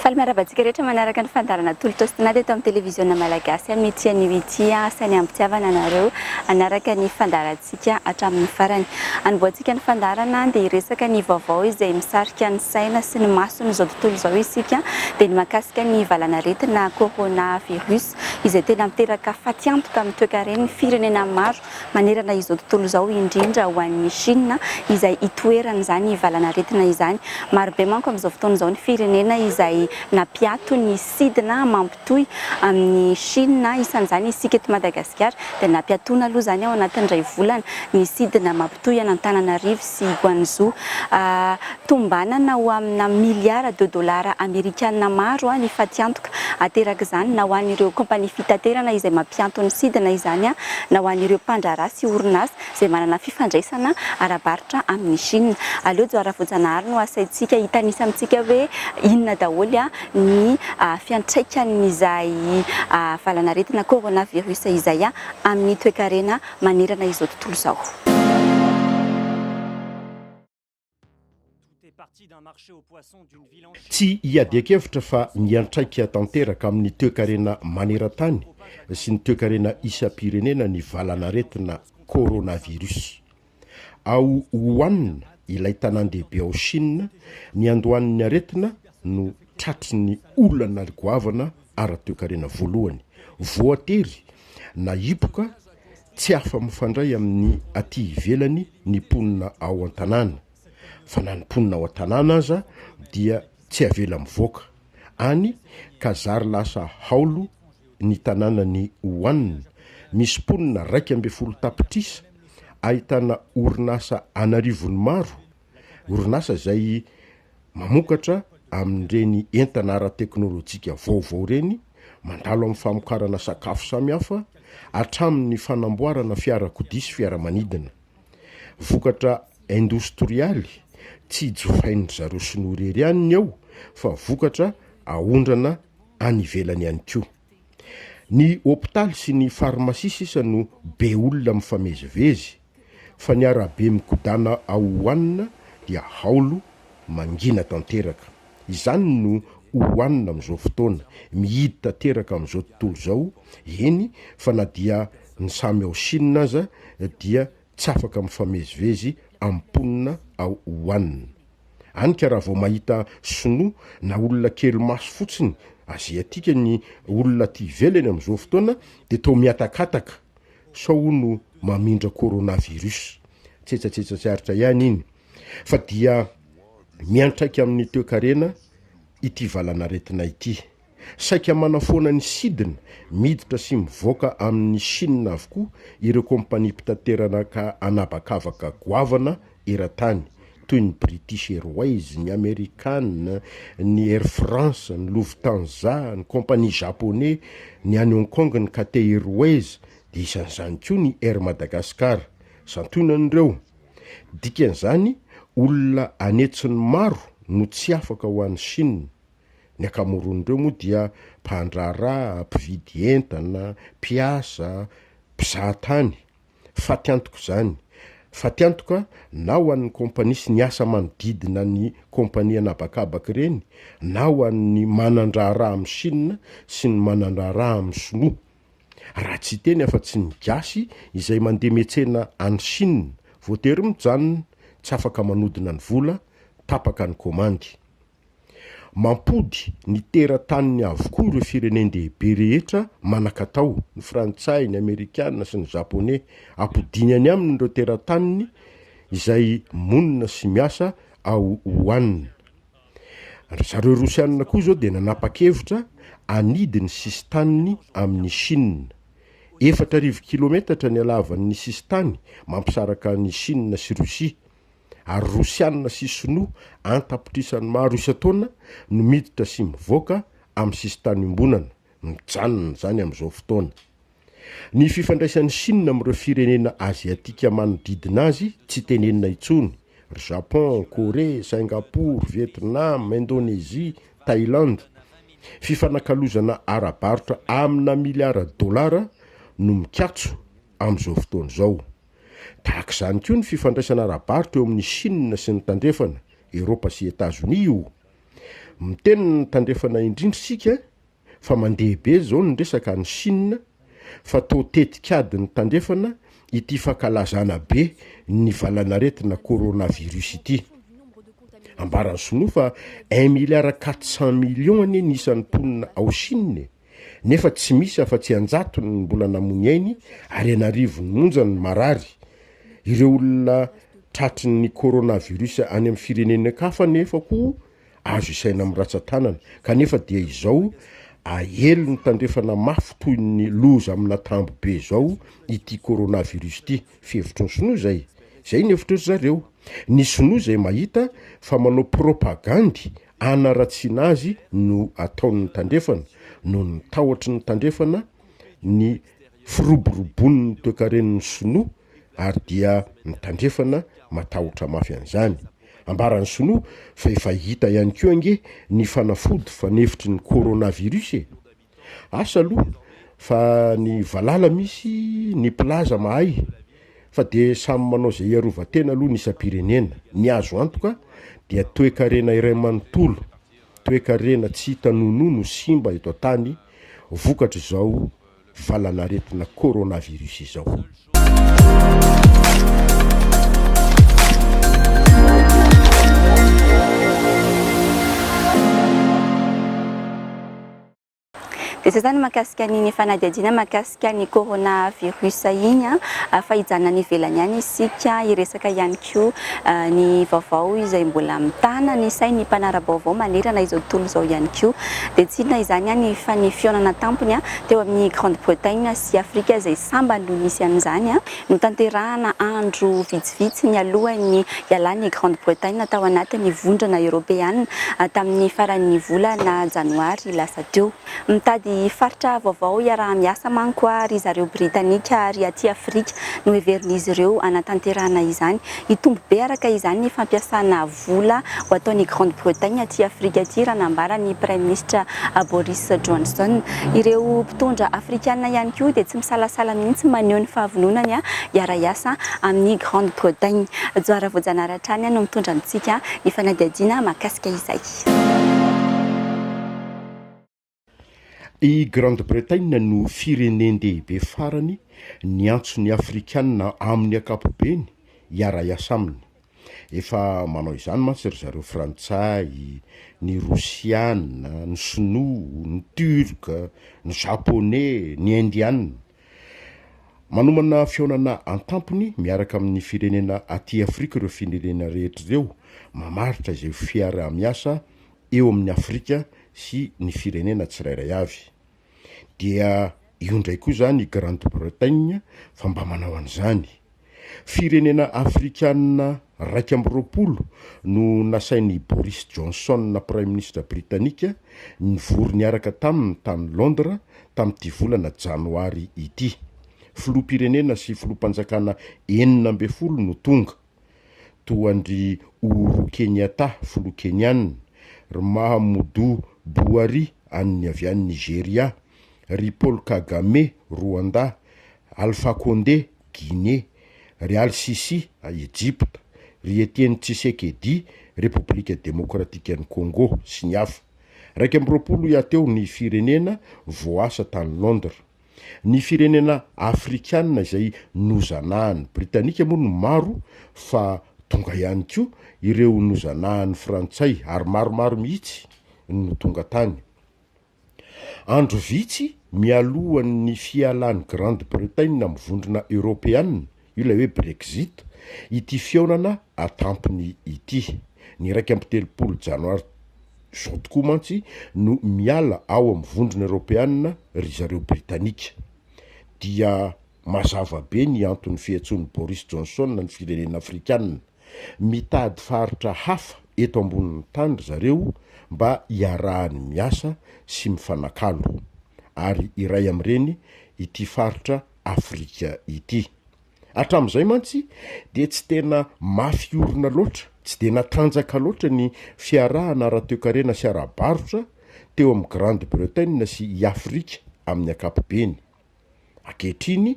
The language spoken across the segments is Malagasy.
Faly miarahaba antsika rehetra manaraka ny fandaharana Tolo Tostinada eto amin'ny televiziona malagasy amin'ity anio ity. Asainy ampitiavana anareo hanaraka ny fandaharantsika hatramin'ny farany. Anombohantsika ny fandaharana dia hiresaka ny vaovao izay misarika ny saina sy ny mason'izao tontolo izao isika. Dia ny mahakasika ny valanaretina Corona Virus izay tena miteraka fatiantoka amin'ny toekaren'ny firenena maro manerana izao tontolo izao, indrindra ho an'i Shina izay itoeran'izany valan'aretina izany. Marobe manko amin'izao fotoana izao ny firenena izay nampiato ny sidina mampitohy amin'i Shina, isan'izany isika eto Madagasikara dia nampiatoana aloha izany ao anatin'ny iray volana ny sidina mampitohy an'Antananarivo sy Guangzhou. Tombanana ho amina miliara de dolara amerikana maro ny fatiantoka aterak'izany na ho an'ireo kaompania fitaterana izay mampianto ny sidina izany na ho an'ireo mpandraharaha sy orinasa izay manana fifandraisana ara-barotra amin'i Shina. Aleo Johar Rafojanahary no asaintsika hitanisa amintsika hoe inona daholo ny fiantraikan'izay valanaretina coronavirus izay amin'ny toekarena manerana izao tontolo izao. Tsy iadian-kevitra fa miantraika tanteraka amin'ny toekarena maneran-tany sy ny toekarena isam-pirenena ny valan'aretina coronavirus. Ao Wuhan, ilay tanàn-dehibe ao Shina, niandohan'ny aretina no tratry ny olana goavana ara-toekarena voalohany voatery na hipoka tsy afa-mifandray amin'ny aty ivelany ny mponina ao an-tanàna, fa na ny mponina ao an-tanàna aza dia tsy avela mivoaka any ka zary lasa haolo ny tanànan'i Wuhan, misy mponina raika ambin'ny folo tapitrisa, ahitana orinasa an'arivony maro Orinasa izay mamokatra amin'ireny entana ara-teknolojika vaovao ireny mandalo amin'ny famokarana sakafo samihafa hatramin'ny fanamboarana fiarakodia sy fiaramanidina. Vokatra indostrialy tsy jifain'dry zareo sinoa irery ihany ny ao fa vokatra aondrana any ivelany ihany koa. Ny hopitaly sy ny farmasia sisa no be olona mifamezivezy. fa ny arabe mikodàna ao Wuhan dia haolo mangina tanteraka. Izany no Wuhan amin'izao fotoana, mihidy tanteraka amin'izao tontolo izao, eny fa na dia ny samy ao Shina aza dia tsy afaka mifamezivezy amin'ny mponina ao Wuhan. Any ka raha vao mahita sinoa na olona kely maso fotsiny aziatika ny olona aty ivelany amin'izao fotoana dia toa mihatakataka. sao hono mamindra coronavirus. Tsetsatsetsa tsy aritra ihany iny fa dia miantraika amin'ny toekarena ity valanaretina ity. Saika manafoana ny sidina, miditra sy mivoaka amin'i Chine avokoa ireo kompania mpitaterana ka an'habakabaka goavana eran-tany toy ny British Airways, ny American, ny Air France, ny Lufthansa, ny Compagnie Japonais, ny any Hong Kong ny Cathay Airways dia isan'izany koa ny Air Madagascar. Santionany ireo. Dikan'izany, olona any hetsiny maro no tsy afaka ho any Chine. Ny akamoron'ireo moa dia mpandraharaha, mpividy entana, mpiasa, mpizahatany. Faty antoka izany. Faty antoka na ho an'ny kompania sy ny asa manodidina ny kompania an'habakabaka ireny na ho an'ny manan-draharaha amin'i Shina sy ny manan-draharaha amin'i Shinoa. Raha tsy hiteny afa-tsy ny Gasy izay mandeha miantsena any Shina, voatery mijanona, tsy afaka manodina ny vola, tapaka ny komandy. Mampody ny terataniny avokoa ireo firenen-dehibe rehetra manan-katao, ny Frantsay, ny Amerikana sy ny Japoney. Ampodiany any aminy ireo terataniny izay monina sy miasa ao Wuhan. Ry zareo Rosiana koa izao dia nanapa-kevitra hanidy ny sisin-taniny amin'i Shina. Efatra arivo kilometatra ny halavan'ny sisin-tany mampisaraka an'i Shina sy Rosia. ary Rosiana sy Sinoa an-tapitrisany maro isan-taona no miditra sy mivoaka amin'ny sisintany iombonana, mijanona izany amin'izao fotoana. Ny fifandraisan'i Shina amin'ireo firenena Aziatika manodidina azy tsy tenenina intsony, ry Japon, Korea, Singapour, Vietnam, Indonesia, Thailand. Fifanakalozana ara-barotra amina miliara dolara no mikatso amin'izao fotoana izao. Tahaka izany koa ny fifandraisana ara-barotra eo amin'i Shina sy ny Tandrefana, Eropa sy Etazonia io. Miteny ny Tandrefana indrindra isika fa mandeha be izao ny resaka any Shina fa toa tetik'ady ny Tandrefana ity fankalazana be ny valan'aretina coronavirus ity. Ambaran'ny Sinoa fa un milliard quatre cent millions anie ny isan'ny mponina ao Shina e! nefa tsy misy afa-tsy an-jatony ny mbola namoy ainy ary an'arivony monja ny marary. Ireo olona tratry ny coronavirus any amin'ny firenenekafa anefa koa azo isaina amin'ny ratsan-tanana, kanefa dia izao aely ny tandrefana mafy toy ny loza amina tambo be izao ity coronavirus ity. Fihevitry ny sinoa izay. Izay ny hevitry ry zareo. Ny sinoa izay mahita fa manao propagandy hanaratsiana azy no ataon'ny Tandrefana noho ny tahotry ny Tandrefana ny firoborobon'ny toekaren'ny Sinoa ary dia ny Tandrefana matahotra mafy an'izany. Ambaran'ny Sinoa fa efa hita ihany koa ange ny fanafody fanefitry ny Coronavirus e! Asa aloha fa ny valala misy ny mpilaza mahay fa dia samy manao izay hiarovan-tena aloha ny isam-pirenena. Ny azo antoka dia toekarena iray manontolo, toekarena tsy hita nonoa no simba eto an-tany vokatr'izao valanaretina coronavirus izao. Dia izay izany mahakasika ny fanadihadiana mahakasika ny coronavirus iny fa hijanona any ivelany any isika hiresaka ihany. Tokio. Ny vaovao izay mbola mitana ny sain'ny mpanara-baovao manerana izao tontolo izao ihany koa dia tsy inona izany an ny fa ny fihaonana tampony teo amin'ny Grande Bretagne sy Afrika izay sambany no nisy an'izany notanterahana andro vitsivitsy nialohan'ny hialan'i Grande Bretagne tao anatin'ny Vondrona Eoropeana tamin'ny faran'ny volana janoary lasa teo. Mitady faritra vaovao hiaraha-miasa manko aho ry zareo Britanika ary aty Afrika no heverin'izy ireo hanatanterahana izany. Hitombo be araka izany ny fampiasana vola ho ataon'i Grande Bretagne aty Afrika aty raha nambaran'ny Praiminisitra Boris Johnson. Ireo mpitondra Afrikana ihany koa dia tsy misalasala mihitsy maneho ny fahavononany hiara-hiasa amin'i Grande Bretagne. Johara Voajanahary hatrany no mitondra amintsika ny fanadihadiana mahakasika izay. I Grande-Bretagne no firenen-dehibe farany niantso ny Afrikana amin'ny ankapobeny hiara-hiasa aminy. Efa manao izany mantsy ry zareo Frantsay, ny Rosiana, ny Sinoa, ny Turca, ny Japoney, ny Indiana. Manomana fihaonana an-tampony miaraka amin'ny firenena aty Afrika ireo firenena rehetra ireo mamaritra izay ho fiaraha-miasa eo amin'ny Afrika sy ny firenena tsirairay avy. Dia io indray koa izany i Grande-Bretagne fa mba manao an'izany. Firenena afrikana iraika amby roapolo no nasain'i Boris Johnson Praiminisitra Britanika nivory niaraka taminy tany Londres tamin'ity volana Janoary ity. Filoham-pirenena sy filoham-panjakana enina ambin'ny folo no tonga. toa an-dry Uhuru Kenyatta, filoha Kenyana, ry Mahamudu Buhari an'ny avy any Nigeria, ry Paul Kagame, Rwanda, Alpha Condé, Guinée, ry Al-Sisi, Ejipta, ry Etienne Tshisekedi, Repoblika Demokratikan'i Congo, sy ny hafa. Iraika amby roapolo hiaty eo ny firenena voaasa tany Londres. Ny firenena afrikana izay nozanahan'ny Britanika moa no maro fa tonga ihany koa ireo nozanahan'ny Frantsay ary maromaro mihitsy no tonga tany. Andro vitsy mialohan'ny fialan'i Grande-Bretagne amin'ny vondrona eoropeana Io ilay hoe Brexit, ity fihaonana an-tampony ity. Ny iraika amby telopolo Janoary izao tokoa mantsy no miala ao amin'ny Vondrona Eoropeanina ry zareo Britanika. Dia mazava be ny anton'ny fiantsoan'i Boris Johnson ny firenena Afrikanina. Mitady faritra hafa eto ambonin'ny tany ry zareo mba hiarahany miasa sy mifanakalo. Ary iray amin'ireny ity faritra Afrika ity. Hatramin'izay mantsy dia tsy tena mafy orina loatra, tsy dia natanjaka loatra ny fiarahana ara-toekarena sy ara-barotra teo amin'i Grande-Bretagne sy i Afrika amin'ny ankapobeny. Ankehitriny,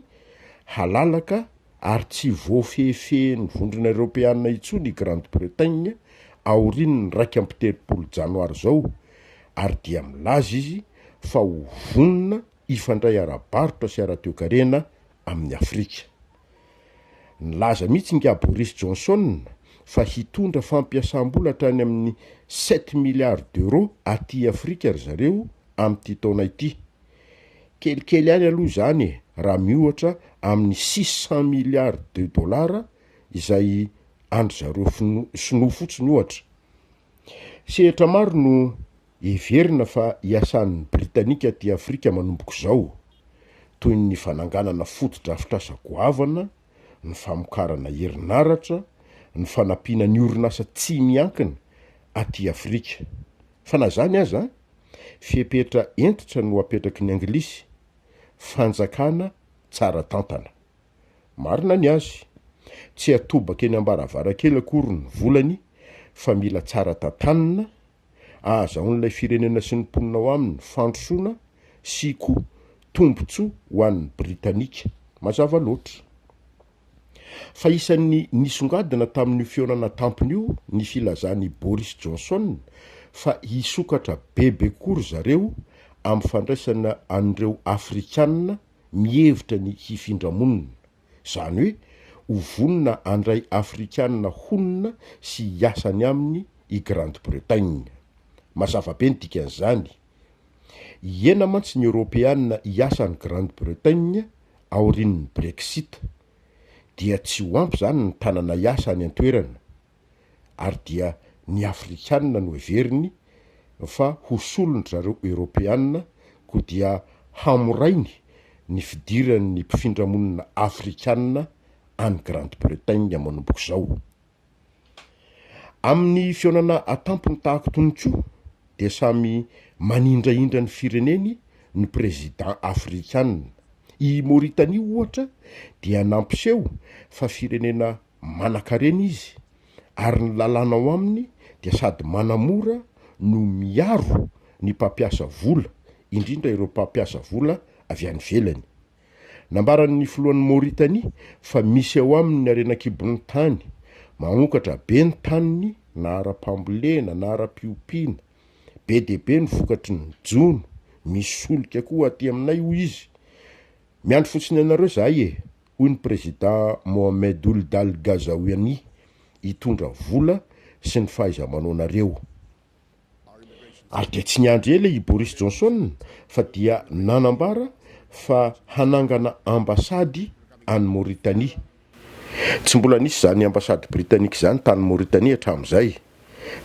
halalaka ary tsy voafehifehin'ny Vondrona Eoropeana intsony i Grande-Bretagne aorian'ny iraika amby telopolo Janoary izao ary dia milaza izy fa ho vonona hifandray ara-barotra sy ara-toekarena amin'i Afrika. Nilaza mihitsy ingahy Boris Johnson fa hitondra fampiasam-bola hatrany amin'ny sept milliards d'euros aty Afrika ry zareo amin'ity taona ity. Kelikely ihany aloha izany e, raha miohatra amin'ny six cents milliards de dollars izay an-dry zareo Sinoa fotsiny ohatra. Sehatra maro no heverina fa hiasan'ny Britanika aty Afrika manomboka izao, toy ny fananganana fotodrafitrasa goavana, ny famokarana herinaratra, ny fanampiana ny orinasa tsy miankina aty Afrika. Fa na izany aza, fepetra hentitra no apetraky ny Anglisy, fanjakana tsara tantana. Marina ny azy. Tsy atobaka eny ambaravarankely akory ny volany fa mila tsara tantanina, ahazahoan'ilay firenena sy ny mponina ao aminy fandrosoana sy koa tombontsoa ho an'ny Britanika. Mazava loatra. Fa isan'ny nisongadina tamin'io fihaonana tampony io ny filazan'i Boris Johnson fa hisokatra bebe koa ry zareo amin'ny fandraisana an'ireo Afrikana mihevitra ny hifindra monina, izany hoe ho vonona handray Afrikana honina sy hiasa any aminy i Grande-Bretagne. Mazava be ny dikan'izany. Hihena mantsy ny Eoropeana hiasa any Grande-Bretagne aorian'ny Brexit. Dia tsy ho ampy izany ny tanana hiasa any an-toerana. ary dia ny afrikanina no heveriny fa ho solon-dry zareo eoropeanina koa dia hamorainy ny fidiran'ny mpifindra monina afrikanina any Grande Bretagne manomboka izao. Amin'ny fihaonana an-tampony tahaka itony koa dia samy manindrahindra ny fireneny ny president afrikanina. I Mauritanie ohatra dia nampiseho fa firenena Manankarena Izy, ary ny lalàna ao aminy dia sady manamora no miaro ny mpampiasa vola, indrindra ireo mpampiasa vola avy any ivelany. Nambaran'ny filohan'i Mauritanie fa misy ao aminy harena an-kibon'ny tany, mahaonkatra be ny taniny na ara-pambolena na ara-piompiana. Be dia be ny vokatry ny jono, misy solika koa aty aminay hoy izy. Miandry fotsiny anareo izahay e! hoy ny Prezidà Mohamed Ould Al Ghazaouani, hitondra vola sy ny fahaiza-manaonareo. Ary dia tsy niandry ela i Boris Johnson fa dia nanambara fa hanangana ambasady any Mauritanie. Tsy mbola nisy izany ambasady Britanika izany tany Mauritanie hatramin'izay.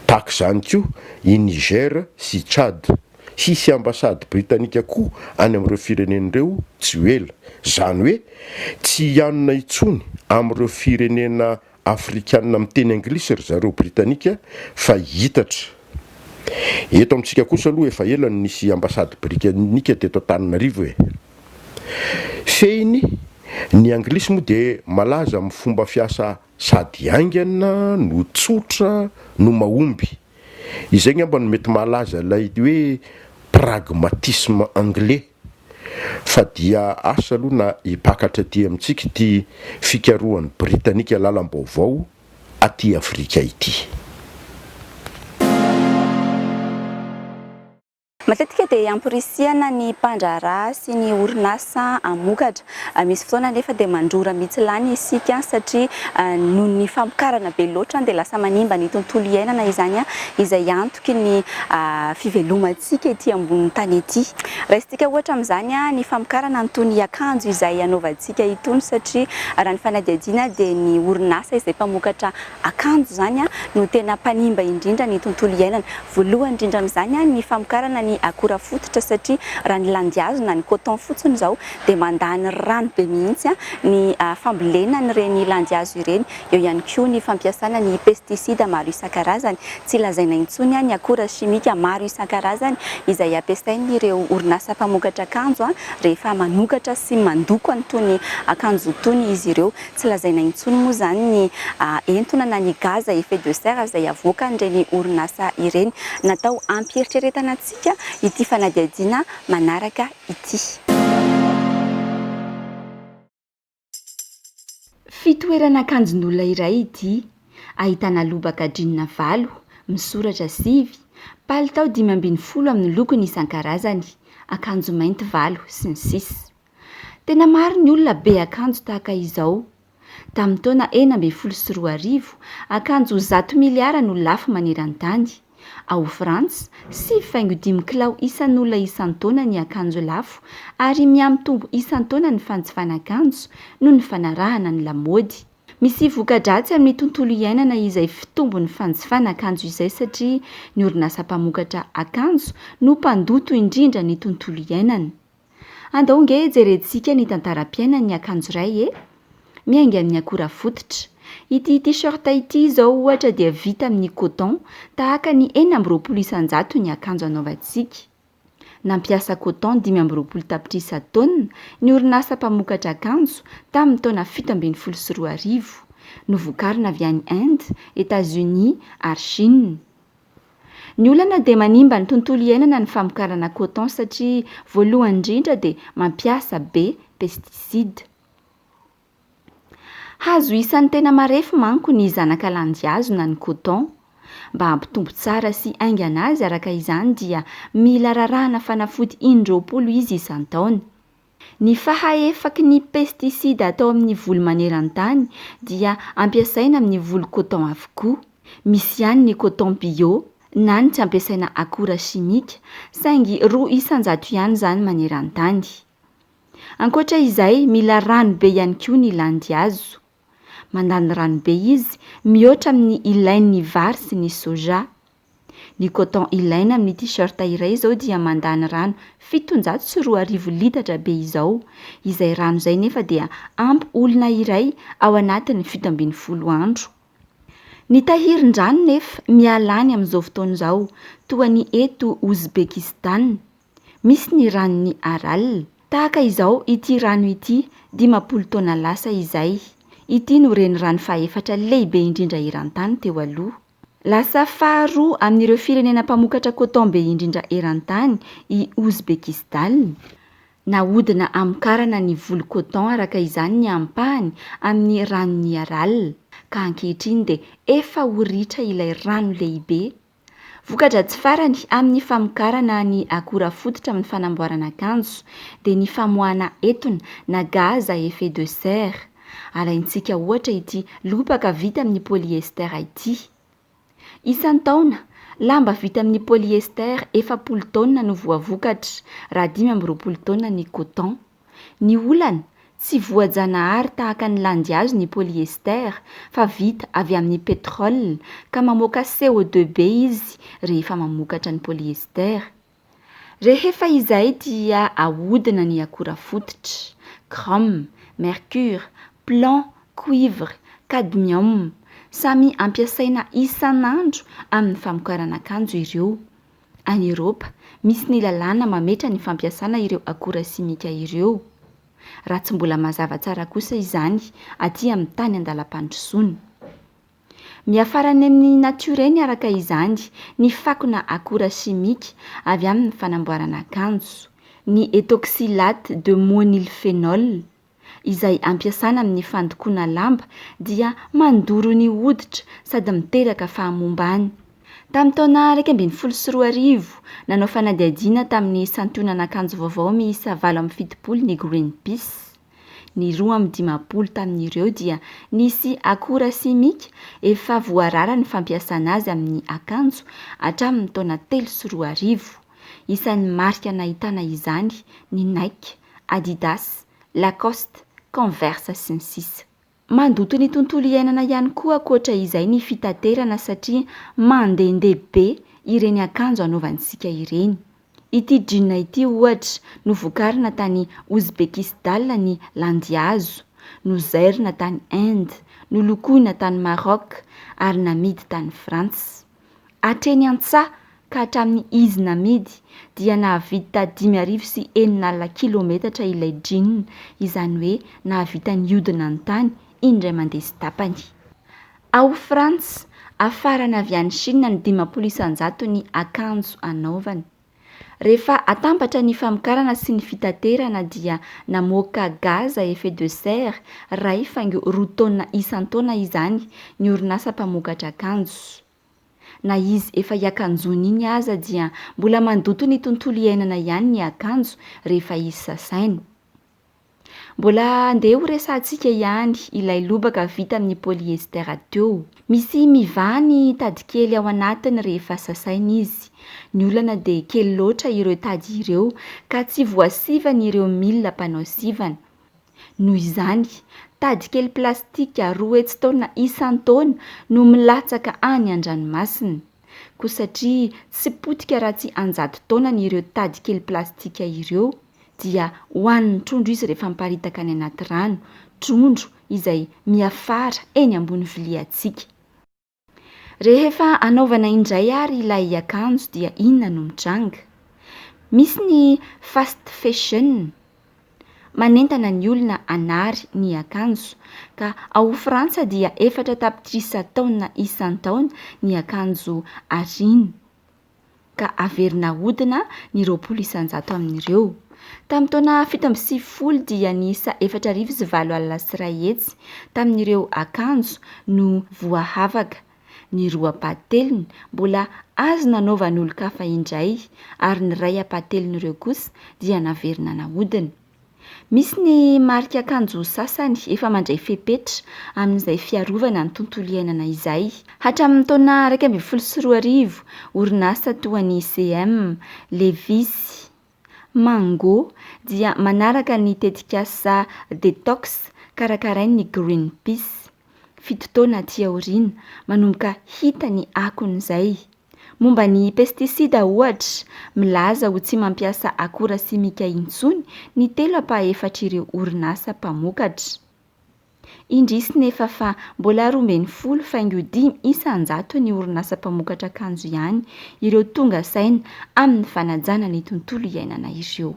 Tahaka izany koa i Niger sy Tchad. Hisy ambasady britanika koa any amin'ireo firenena ireo tsy ho ela. Izany hoe tsy hianona intsony amin'ireo firenena afrikanina miteny anglisy ry zareo britanika fa hiitatra. Eto amintsika kosa aloha efa ela no nisy ambasady brikanika teto Antananarivo e! Fehiny, ny anglisy moa dia malaza amin'ny fomba fiasa Sady haingana no tsotra no mahomby. Izay ngamba no mety mahalaza ilay hoe pragmatisme anglais. Fa dia asa aloha na hipakatra aty amintsika ity fikarohan'ny Britanika lalam-baovao aty Afrika ity. Matetika dia amporisihana ny mpandraharaha sy ny orinasa hamokatra. Misy fotoana anefa dia mandrora mihitsy lany isika satria noho ny famokarana be loatra dia lasa manimba ny tontolo iainana izany izay antoky ny fivelomantsika ety ambonin'ny tany ety. Raisintsika ohatra amin'izany ny famokarana an'itony akanjo izay anaovantsika itony satria raha ny fanadihadiana dia ny orinasa izay mpamokatra akanjo izany no tena mpanimba indrindra ny tontolo iainana. Voalohany indrindra amin'izany ny famokarana ny akora fototra satria raha ny landihazo na ny coton fotsiny izao dia mandany rano be mihitsy ny fambolena an'ireny landihazo ireny. Eo ihany koa ny fampiasana ny pesticide maro isan-karazany. Tsy lazaina intsony ny akora simika maro isan-karazany izay ampiasain'ireo orinasa mpamokatra akanjo rehefa manokatra sy mandoko an'itony akanjo itony izy ireo. Tsy lazaina intsony moa izany ny entona na ny gaz à effet de serre izay avoakan'ireny orinasa ireny. Natao hampieritreretana antsika ity fanadihadiana manaraka ity. Fitoerana akanjon'olona iray ity, ahitana lobaka jeans valo, misoratra sivy, palitao dimy ambin'ny folo amin'ny lokony isan-karazany, akanjo mainty valo, sy ny sisa. Tena maro ny olona be akanjo tahaka izao. Tamin'ny taona enina ambin'ny folo sy roa arivo, akanjo zato miliara no lafo maneran-tany. Ao Frantsa, sivy faingo dimy kilao isan'olona isan-taona ny akanjo lafo, ary mihamitombo isan-taona ny fanjifana akanjo noho ny fanarahana ny lamaody. Misy voka-dratsy amin'ny tontolo iainana izay fitombon'ny fanjifana akanjo izay satria ny orinasa mpamokatra akanjo no mpandoto indrindra ny tontolo iainana. Andao ange jerentsika ny tantaram-piainan'ny akanjo iray e! Miainga amin'ny akora fototra. Ity T-shirt ity izao ohatra dia vita amin'ny coton tahaka ny enina amby roapolo isan-jato ny akanjo anaovantsika. Nampiasa coton dimy amby roapolo tapitrisa taonina ny orinasa mpamokatra akanjo tamin'ny taona fito ambin'ny folo sy roa arivo. Novokarina avy any Inde, Etats-Unis ary Chine. Ny olana dia manimba ny tontolo iainana ny famokarana coton satria voalohany indrindra dia mampiasa be pesticides. Hazo isan'ny tena marefo manko ny zanaka landihazo na ny coton. Mba hampitombo tsara sy haingana azy araka izany dia mila rarahana fanafody in-droapolo izy isan-taona. Ny fahaefaky ny pesticide atao amin'ny voly maneran-tany dia ampiasaina amin'ny voly coton avokoa. Misy ihany ny coton bio na ny tsy ampiasaina akora simika, saingy roa isan-jato ihany izany maneran-tany. Ankoatra izay, mila rano be ihany koa ny landihazo. Mandany rano be izy, mihoatra amin'ny ilain'ny vary sy ny soja. Ny coton ilaina amin'ny t-shirt iray izao dia mandany rano fitonjato sy roa arivo litatra be izao. Izay rano izay nefa dia ampy olona iray ao anatin'ny fito ambin'ny folo andro. Ny tahirin-drano nefa miala any amin'izao fotoana izao, toa ny eto Ouzbekistan. Misy ny ranon'i Aral. Tahaka izao ity rano ity dimampolo taona lasa izay. Ity no renirano fahefatra lehibe indrindra eran-tany teo aloha. Lasa faharoa amin'ireo firenena mpamokatra coton be indrindra eran-tany i Ouzbekistan. Nahodina hamokarana ny voly coton araka izany ny ampahany amin'ny ranon'i Aral, ka ankehitriny dia efa ho ritra ilay rano lehibe. Voka-dratsy farany amin'ny famokarana ny akora fototra amin'ny fanamboarana akanjo dia ny famoahana etona na gaz à effet de serre. Alaintsika ohatra ity lobaka vita amin'ny polyester ity. Isan-taona, lamba vita amin'ny polyester efapolo taonina no voavokatra, raha dimy amby roapolo taonina ny coton. Ny olana, tsy voajanahary tahaka ny landihazo ny polyester, fa vita avy amin'ny pétrole, ka mamoaka CO2 be izy rehefa mamokatra ny polyester. Rehefa izay dia ahodina ny akora fototra, chrome, mercure, plomb, cuivre, cadmium, samy ampiasaina isan'andro amin'ny famokarana akanjo ireo. Any Eropa, misy ny lalàna mametra ny fampiasana ireo akora simika ireo, raha tsy mbola mazava tsara kosa izany aty amin'ny tany an-dalam-pandrosoana. Miafara any amin'ny natiora eny araka izany ny fakona akora simika avy amin'ny fanamboarana akanjo, ny ethoxylate de moenylphenol, izay ampiasana amin'ny fandokoana lamba dia mandoro ny hoditra sady miteraka fahamombàny. Tamin'ny taona iraika ambin'ny folo sy roa arivo, nanao fanadihadiana tamin'ny santionan'akanjo vaovao miisa valo amby fitopolo ny Greenpeace. Ny roa amby dimampolo tamin'ireo dia nisy akora simika efa voarara ny fampiasana azy amin'ny akanjo hatramin'ny taona telo sy roa arivo. Isan'ny marika nahitana izany ny Nike, Adidas, Lacoste, Converse sy ny sisa. Mandoto ny tontolo iainana ihany koa ankoatra izay ny fitaterana satria mandehandeha be ireny akanjo anaovantsika ireny. Ity jean ity ohatra no vokarina tany Ouzbekisdal ny landihazo, nozairina tany Inde, nolokoina tany Maroc ary namidy tany Frantsa. Hatreny an-tsaha ka hatramin'ny izy namidy dia nahavidy taha dimy arivo sy enina alina kilometatra ilay jean, izany hoe nahavita nihodina ny tany indray mandeha sy tapany. Ao Frantsa, hafarana avy any Chine ny dimampolo isan-jaton'ny akanjo anaovany. Rehefa atambatra ny famokarana sy ny fitaterana dia namoaka gaz à effet de serre iray faingo roa taonina isan-taona izany ny orinasa mpamokatra akanjo. Na izy efa hiakanjoana iny aza dia mbola mandoto ny tontolo iainana ihany ny akanjo rehefa izy sasaina. Mbola andeha ho resahantsika ihany ilay lobaka vita amin'ny polyester teo. Misy mivaha ny tady kely ao anatiny rehefa sasaina izy. Ny olana dia kely loatra ireo tady ireo ka tsy voasivana ireo milina mpanao sivana. Noho izany, tady kely plastika roa hetsy taona isan-taona no milatsaka any an-dranomasina. Koa satria tsy potika raha tsy an-jato taonany ireo tady kely plastika ireo, dia hohanin'ny trondro izy rehefa miparitaka any anaty rano, trondro izay miafara eny ambony viliantsika. Rehefa anaovana indray ary ilay akanjo dia inona no mitranga? Misy ny fast fashion manentana ny olona hanary ny akanjo ka ao Frantsa dia efatra tapitrisa taonina isan-taona ny akanjo ariana. ka averina hahodina ny roapolo isan-jato amin'ireo. Tamin'ny taona fito amby sivifolo dia niisa efatra arivo sy valo alina sy iray hetsy tamin'ireo akanjo no voahavaka. Ny roa ampahatelony mbola azo nanaovan'olon-kafa indray ary ny iray ampahatelon'ireo kosa dia naverina nahodina. Misy ny marika akanjo sasany efa mandray fepetra amin'izay fiarovana ny tontolo iainana izay. Hatramin'ny taona iraika ambin'ny folo sy roa arivo, orinasa toa an'i CM, Levi's, Mango dia manaraka ny tetikasa Detox karakarain'ny Greenpeace. Fito taona aty aoriana, manomboka hita ny akon'izay. Momba ny pestisida, ohatra, milaza ho tsy mampiasa akora simika intsony ny telo ampahaefatr'ireo orinasa mpamokatra. Indrisy nefa fa mbola roa ambin'ny folo faingo dimy isan-jato ny orinasa mpamokatra akanjo ihany ireo tonga saina amin'ny fanajana ny tontolo iainana ireo.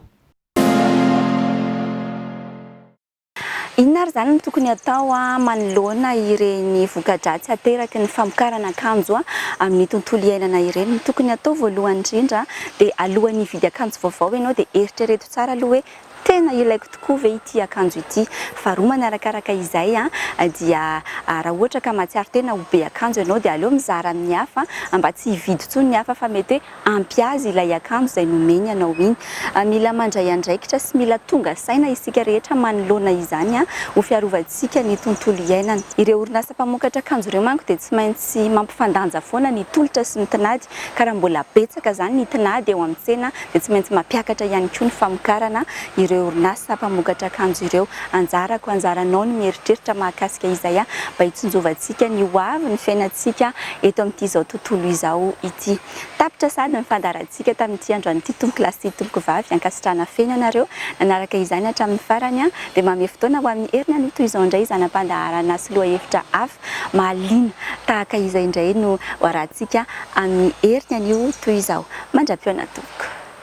Inona ary izany no tokony hatao manoloana ireny voka-dratsy ateraky ny famokarana akanjo amin'ny tontolo iainana ireny? Ny tokony hatao voalohany indrindra dia alohan'ny hividy akanjo vaovao ianao dia eritrereto tsara aloha hoe tena ilaiko tokoa ve ity akanjo ity? Faharoa manarakaraka izay dia raha ohatra ka mahatsiaro tena ho be akanjo ianao dia aleo mizara amin'ny hafa mba tsy hividy intsony ny hafa fa mety hoe ampy azy ilay akanjo izay nomeny anao iny. Mila mandray andraikitra sy mila tonga saina isika rehetra manoloana izany ho fiarovantsika ny tontolo iainana. Ireo orinasa mpamokatra akanjo ireo manko dia tsy maintsy mampifandanja foana ny tolotra sy ny tinady ka raha mbola betsaka izany ny tinady eo amin'ny tsena dia tsy maintsy mampiakatra ihany koa ny famokarana ireo orinasa mpamokatra akanjo ireo. Anjarako, anjaranao ny mieritreritra mahakasika izay mba hitsinjovantsika ny hoavy ny fiainantsika eto amin'ity izao tontolo izao ity. Tapitra sahady ny fandaharantsika tamin'ity androan'ity Tompo lahy sy Tompoko vavy ankasitrahana feno anareo nanaraka izany hatramin'ny farany dia manome fotoana ho amin'ny heriny aloha toy izao indray zana-pandaharana sy lohahevitra hafa mahaliana tahaka izay indray no hoarahantsika amin'ny heriny anio toy izao mandra-pihaona Tompoko.